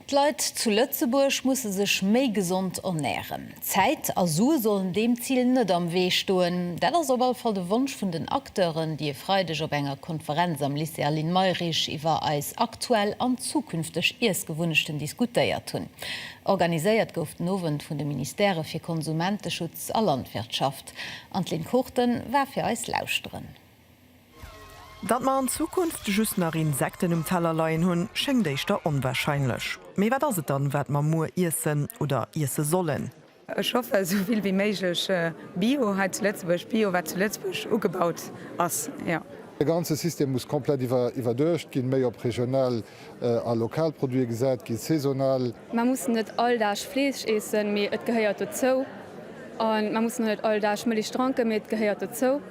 D'Leit zu Lëtzebuerg musse sech méi gesond ernären. Zäit a Sue sollen deem Zil net am Wee stoen. Dat ass op alle Fall de Wonsch vun den Acteuren, déi e Freideg op enger Konferenz am Lycée Aline Mayrisch iwwer eis aktuell an zukünfteg Iessgewunnechten diskutéiert hunn. Organiséiert gouf den Owend vun de Ministèrë fir Konsumenteschutz a Landwirtschaft. An d'Lynn Kourten war fir eis lauschteren. Datt mer an Zukunft just nach Insekten um Teller leien hunn, schéngt éischter onwarscheinlech. Mee wat ass et dann, wat mer muer iessen oder iesse sollen? Ech hoffen esou vill wéi méiglech Bio hei zu Lëtzebuerg, Bio wat zu Lëtzebuerg ugebaut ass. E ganze System muss komplett iwwerduecht ginn, méi op regional a lokal Produite gesat ginn, saisonal. Mer mussen net all Dag Fleesch iessen, mee et gehéiert dozou. An mer mussen och net all Dag Mëlich dranken, mee et gehéiert dozou.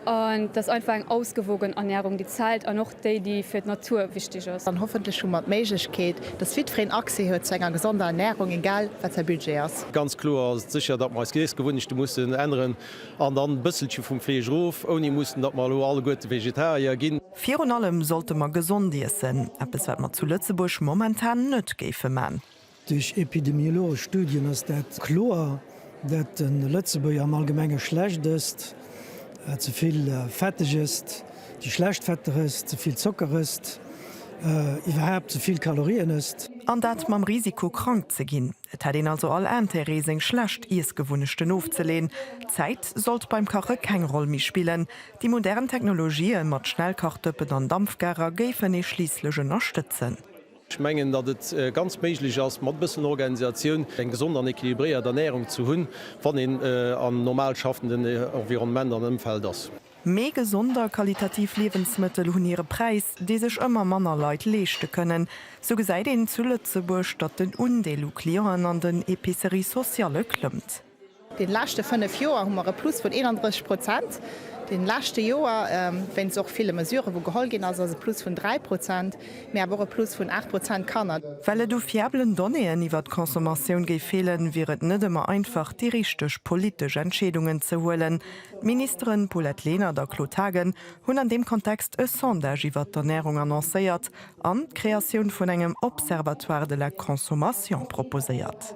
An et ass einfach eng ausgewogen Ernährung, déi zählt, an och déi, déi fir d'Natur wichtig ass. An hoffentlech hu mer d'Méiglechkeet, dass jiddfereen Accès huet zu enger gesonder Ernährung, egal wat säi Budget ass. Ganz kloer ass et sécher, datt mer eis Iessgewunnechte mussen änneren an dann e bësselche vum Fleesch erof, ouni mussen, datt mer elo alleguerte Vegetarier ginn. Virun allem sollte mer gesond iessen, eppes wat mer zu Lëtzebuerg momentan net géife man. Duerch epidemiologesch Studien ass dat kloer, dat de Lëtzebuerger am allgemenge schlecht ësst, ze vill fetteg ësst, déi schlecht Fetter ësst, ze vill Zocker ësst, iwwerhaapt ze vill Kalorien ësst. An dat mam Risiko krank ze ginn. Et hätt een also all Intérêt, seng schlecht Iessgewunnechten ofzeleen. D'Zäit sollt beim Kache keng Roll méi spillen. Déi modern Technologië mat Schnellkachdëppen an Dampfgarer géifen ee schliisslech ënnerstëtzen. Ech mengen, datt et ganz méiglech ass, mat e bëssen Organisatioun eng gesond an equilibréiert Ernärung ze hunn, wann een an normal schaffenden Environnement an Ëmfeld ass. Mee gesond a qualitativ Liewensmëttel hunn hire Präis, dee sech ëmmer manner Leit leeschte kënnen. Sou gesäit een zu Lëtzebuerg, datt den Undeel u Clienten an den Epiceries sociales klëmmt. Deen leschte 5 Joer hu mer e Plus vun 31 Prozent. Deen leschte Joer, wéinst och ville Mesuren, wou geholl ginn ass, ass e Plus vun 3 Prozent, mee awer och e Plus vun 8 Prozent Kanner. Well et u fiabelen Donnéeën iwwert d'Consommatioun géif feelen, wier et net ëmmer einfach, déi richteg politesch Entscheedungen ze huelen. D'Ministere Paulette Lenert a Claude Haagen hunn an deem Kontext e Sondage iwwert d'Ernärung annoncéiert an d'Kreatioun vun engem Observatoire de la consommation proposéiert.